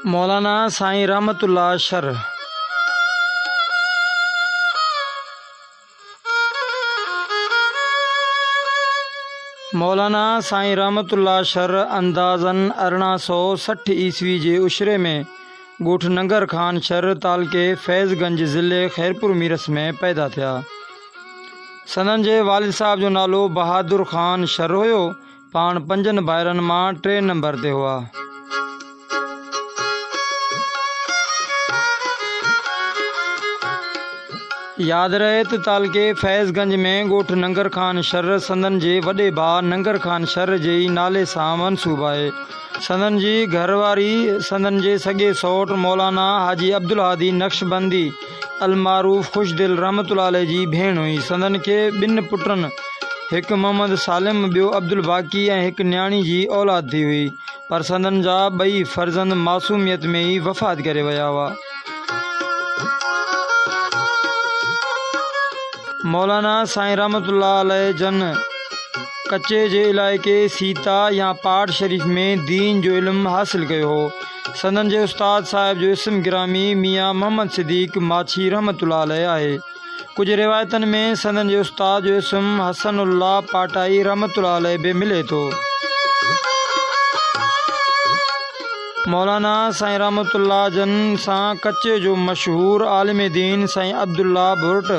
مولانا Sain Rahmatullah Shar Maulana Sain Rahmatullah شر اندازن ارڙهن سو سٺ عيسوي جي عشري ۾ ڳوٺ ننگر خان شھر تعلقي فيض گنج ضلعي خيرپور ميرس ۾ پيدا ٿيا. سندن جي والد صاحب جو نالو بهادر خان شھر هيو. پاڻ پنجن ڀائرن مان ٽئين نمبر تي هئا. ياد رهي ته تعلقي فيض گنج ۾ ڳوٺ ننگر خان شھر سندن جي وڏي ڀاء ننگر خان شھر جي ئي نالي سان منسوب آهي. سندن جي گهر واري سندن جي سڳي سئوٽ مولانا حاجي عبدالهادي نقشبندي المعروف خوش دل رحمة الله عليه جي ڀيڻ هئي. سندن کي ٻن پٽن هڪ محمد سالم ٻيو عبدالباقي ۽ هڪ نياڻي جي اولاد ٿي هئي پر سندن جا ٻئي فرزند معصوميت ۾ ئي وفات ڪري ويا هئا. مولانا سائين رحمت الله عليه جن ڪچي جي علائقي سيتا يا پاٽ شريف ۾ دين جو علم حاصل ڪيو هو. سندن جي استاد صاحب جو اسم گرامي ميان محمد صديق ماڇي رحمت الله عليه آهي. ڪجهه روايتن ۾ سندن جي استاد جو اسم حسن الله پاٽائي رحمة الله عليه به ملي ٿو. مولانا سائين رحمة الله جن سان ڪچي جو مشهور عالم دين سائين عبدالله ڀرٽ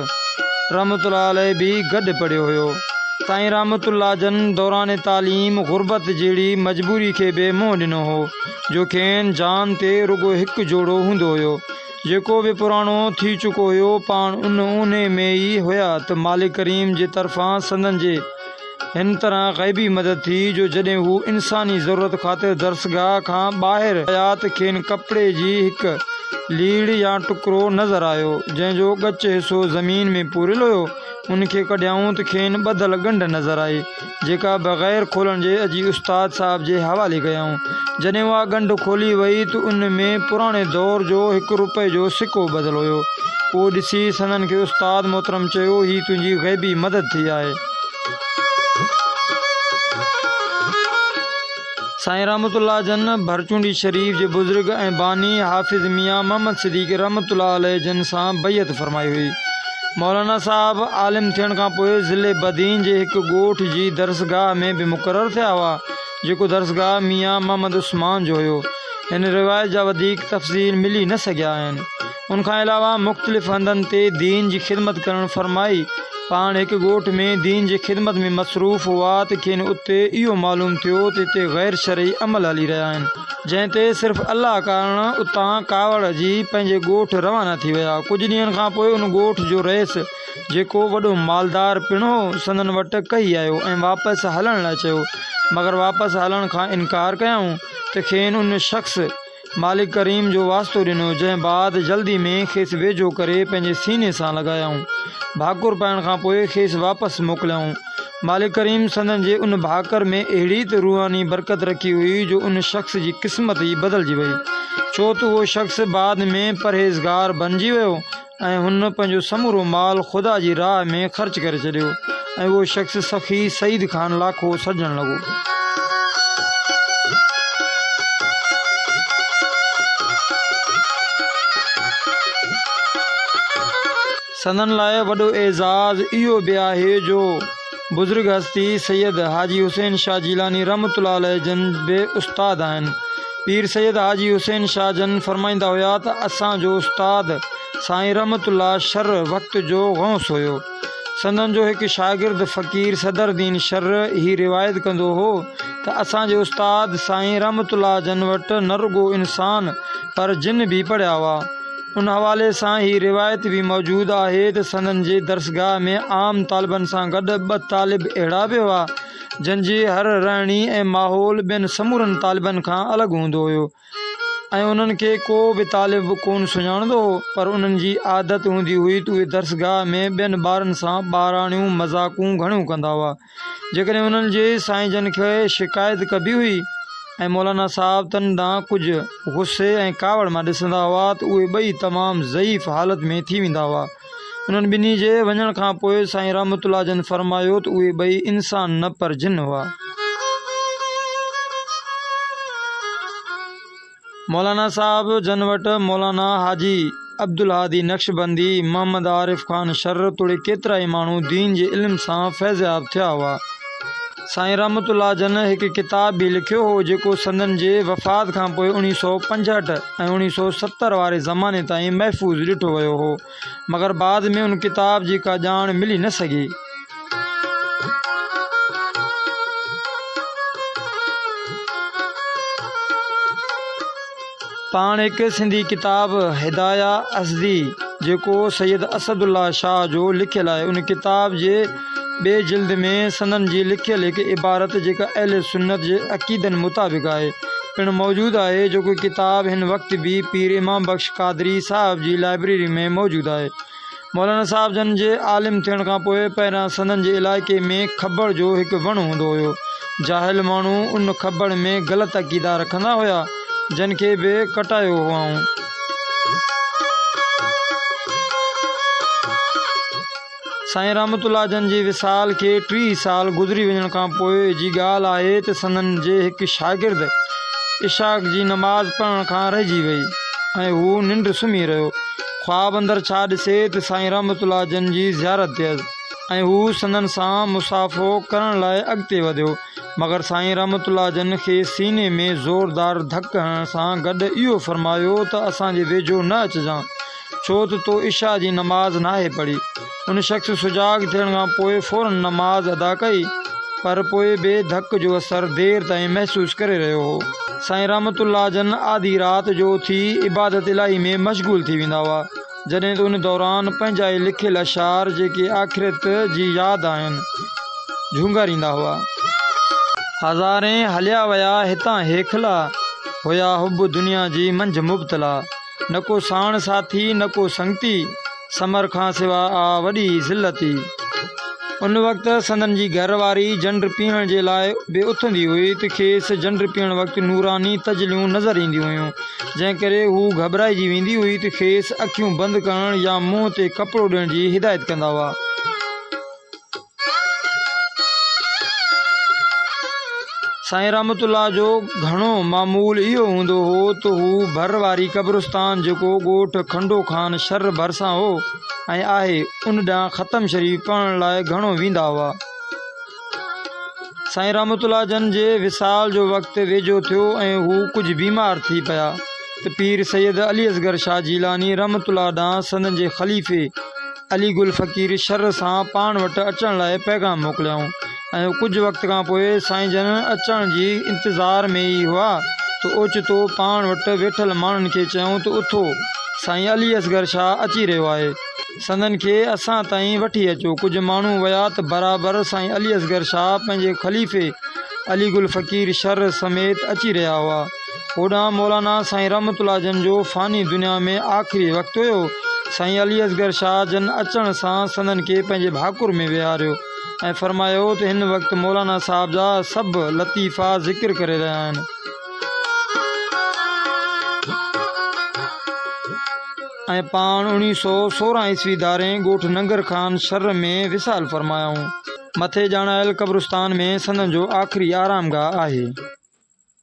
رحمة الله عليه به گڏ پڙهيو هيو. سائين رحمة الله جن دوران تعليم غربت جهڙي مجبوري کي به منهن ڏنو هو، جو کين جان تي رڳو هڪ جوڙو هوندو هيو. جيڪو به پراڻو ٿي چڪو هيو، پاڻ ان اونهي ۾ ئي هيا ته مالڪ ڪريم جي طرفان سندن جي هن طرح غيبي مدد ٿي جو جڏهن هو انساني ضرورت خاطر درسگاهه کان ٻاهر ويا ته کين ڪپڙي جي هڪ ليڙ يا ٽڪرو نظر آيو، جنهن جو ڳچ حصو زمين ۾ پوريل هيو، ان کي ڪڍيائون ته کين ٻڌل ڳنڍ نظر آئي. جيڪا بغير کولڻ جي اجي استاد صاحب جي حوالي ڪيائون. جڏهن اها ڳنڍ کولي وئي ته ان ۾ پراڻي دور جو هڪ روپئي جو سڪو ٻڌل هيو. اهو ڏسي سندن کي استاد محترم چيو، هي تنهنجي غيبي مدد ٿي آهي. سائين رحمت الله جن ڀرچونڊي شريف جي بزرگ ۽ باني حافظ ميان محمد صديقي رحمت الله عليه جن سان بيعت فرمائي هئي. مولانا صاحب عالم ٿيڻ کان پوء ضلعي بدين جي هڪ ڳوٺ جي درسگاهه ۾ به مقرر ٿيا هئا، جيڪو درسگاهه ميان محمد عثمان جو هيو. هن روايت جا وڌيڪ تفصيل ملي نه سگهيا آهن. ان کان علاوه مختلف هنڌن تي دين جي خدمت ڪرڻ فرمائي. پاڻ هڪ ڳوٺ ۾ دين جي خدمت ۾ مصروف هئا ته کين اتي اهو معلوم ٿيو ته اتي غير شرعي عمل هلي رهيا آهن. جنهن تي صرف الله ڪارڻ اتان ڪاوڙ جي پنهنجي ڳوٺ روانا ٿي ويا. ڪجهه ڏينهن کان پوء ان ڳوٺ جو رئيس جيڪو وڏو مالدار پڻ هو سندن وٽ ڪهي آيو ۽ واپس هلڻ لاء چيو مگر واپس هلڻ کان انڪار ڪيائون ته کين ان شخص مالڪ ڪريم جو واسطو ڏنو، جنهن بعد جلدي ۾ کيس ويجهو ڪري پنهنجي سيني سان لڳايائون. ڀاڪر پائڻ کان پوء کيس واپس موڪليائون. مالڪ ڪريم سندن جي ان ڀاڪر ۾ اهڙي ته روحاني برڪت رکي هئي جو ان شخص جي قسمت ئي بدلجي وئي. ڇو ته اهو شخص بعد ۾ پرهيزگار بنجي ويو ۽ هن پنهنجو سمورو مال خدا جي راهه ۾ خرچ ڪري ڇڏيو ۽ اهو شخص سخي سعيد خان لاکو سڏجڻ لڳو. سندن لاء وڏو اعزاز اهو به آهي جو. بزرگ هستي سيد حاجي حسين شاهه جيلاني رحمة الله عليه جن به استاد آهن. پير سيد حاجي حسين شاهه جن فرمائيندا هيا ته اسان جو استاد سائين رحمة الله شرع وقت جو غوث هيو. سندن جو هڪ شاگرد فقير صدر دين شرع هي روايت ڪندو هو ته اسان جي استاد سائين رحمة الله جن وٽ نه رڳو انسان پر جن به پڙهيا هئا. ان حوالي سان هي روايت به موجود آهي ته سندن جي درسگاهه ۾ عام طالبن سان گڏ ٻه طالب اهڙا به هئا، جن جي هر رهڻي ۽ ماحول ٻين سمورن طالبن کان الڳ هوندو هيو ۽ انهن کي ڪو به طالب ڪونه سڃاڻندو هو، پر انهن جي عادت هوندي هئي ته اهي درسگاهه ۾ ٻين ٻارن سان ٻاراڻيون مذاقون گهڻيون ڪندا هئا. جيڪڏهن انهن جي سائين جن کي شڪايت ڪبي هئي ۽ مولانا صاحب تن ڏانهن ڪجهه غصي ۽ ڪاوڙ مان ڏسندا هئا ته اهي ٻئي تمام ضعيف حالت ۾ ٿي ويندا هئا. انهن ٻنهي جي وڃڻ کان پوء سائين رحمت الله جن فرمايو ته اهي ٻئي انسان نه پر جن هئا. مولانا صاحب جن وٽ مولانا حاجي عبدالهادي نقشبندي، محمد عارف خان شر توڙي ڪيترائي ماڻهو دين جي علم سان فيضياب ٿيا هئا. سائين رحمت الله جن هڪ ڪتاب به لکيو هو جيڪو سندن جي وفات کانپوء اوڻيهه سؤ پنجهٺ ۽ اوڻيهه سؤ ستر واري زماني تائين محفوظ ڏٺو ويو هو. مگر بعد ۾ ان ڪتاب جي ڪا ڄاڻ ملي نه سگهي. پاڻ هڪ سنڌي ڪتاب هدايه اسدي جيڪو سيد اسد الله شاهه جو لکيل آهي ان ڪتاب جي ٻي جلد ۾ سندن جي لکيل هڪ عبارت جيڪا اهل سنت جي عقيدن مطابق آهي، پڻ موجود آهي، جيڪو ڪتاب هن وقت به پير امام بخش قادري صاحب جي لائبريري ۾ موجود آهي. مولانا صاحب جن جي عالم ٿيڻ کان پوء پهريان سندن جي علائقي ۾ کٻڙ جو هڪ وڻ هوندو هيو. جاهل ماڻهو ان کٻڙ ۾ غلط عقيدا رکندا هيا، جن کي به ڪٽايو هئائون. سائين رحمت الله جن جي وصال کي ٽيهه سال گذري وڃڻ کان پوء جي ڳالهه آهي ته سندن جي هڪ شاگرد عشاء جي نماز پڙهڻ کان رهجي وئي ۽ هو ننڊ سمهي رهيو. خواب اندر ڇا ڏسي ته سائين رحمت الله جن جي زيارت ٿيس ۽ هو سندن سان مصافحو ڪرڻ لاء اڳتي وڌيو مگر سائين رحمت الله جن کي سيني ۾ زوردار ڌڪ هڻڻ سان گڏ اهو فرمايو ته اسان جي ويجهو نه اچجان ڇو ته تو عشاء جي نماز ناهي پڙهي. ان شخص سجاڳ ٿيڻ کان پوء فورن نماز ادا ڪئي، پر پوء به ڌڪ جو اثر دير تائين محسوس ڪري رهيو هو. سائين رحمت الله جن آڌي رات جو اٿي عبادت الاهي ۾ مشغول ٿي ويندا هئا، جڏهن ته ان دوران پنهنجا ئي لکيل اشعار جيڪي آخرت جي ياد آهن، جهونگاريندا هئا. هزارين هليا ويا هتان هيکلا، هيا حب دنيا جي منجهه مبتلا. نه ڪو ساڻ ساٿي نه ڪو سنگتي، ثمر کان سوا آ وڏي ذلتي. ان وقت سندن جي گهر واري جنڊ پيئڻ جي لاء به اٿندي هئي ته کيس جنڊ پيئڻ وقت نوراني تجليون نظر اينديون هيون، جنهن ڪري هو گهٻرائجي ويندي هئي ته کيس اکيون بند ڪرڻ يا منهن تي ڪپڙو ڏيڻ جي هدايت ڪندا هئا. سائين رحمت الله جو گهڻو معمول اهو هوندو هو ته هو ڀر واري قبرستان جيڪو ڳوٺ کنڊو خان شھر ڀرسان هو ۽ آهي ان ڏانهن ختم شريف پڙهڻ لاء گهڻو ويندا هئا. سائين رحمت الله جن جي وصال جو وقت ويجهو ٿيو ۽ هو ڪجهه بيمار ٿي پيا ته پير سيد علي اصغر شاھ جيلاني رحمت الله ڏانهن سندن جي خليفي علي گل فقير شھر سان پاڻ وٽ اچڻ لاء پيغام موڪليائون ۽ ڪجهه وقت کان پوء سائين جن اچڻ جي انتظار ۾ ئي هئا ته اوچتو پاڻ وٽ ويٺل ماڻهن کي چيائون ته اٿو، سائين علي اصغر شاهه اچي رهيو آهي، سندن کي اسان تائين وٺي اچو. ڪجهه ماڻهو ويا ته برابر سائين علي اصغر شاهه پنهنجي خليفي علي گل فقير شھر سميت اچي رهيا هئا. هوڏانهن مولانا سائين رحمت الله جن جو فاني دنيا ۾ آخري وقت هيو. سائين علي اصغر شاهه جن اچڻ سان سندن کي پنهنجي ڀاڪر ۾ ويهاريو ۽ فرمايو ته هن وقت مولانا صاحب جا سڀ لطيفا ذڪر ڪري رهيا آهن ۽ پاڻ اوڻيهه سؤ سورهن عيسوي ڌارين ڳوٺ ننگر خان شھر ۾ وصال فرمايائون. مٿي ڄاڻايل قبرستان ۾ سندن جو آخري آرامگاهه آهي.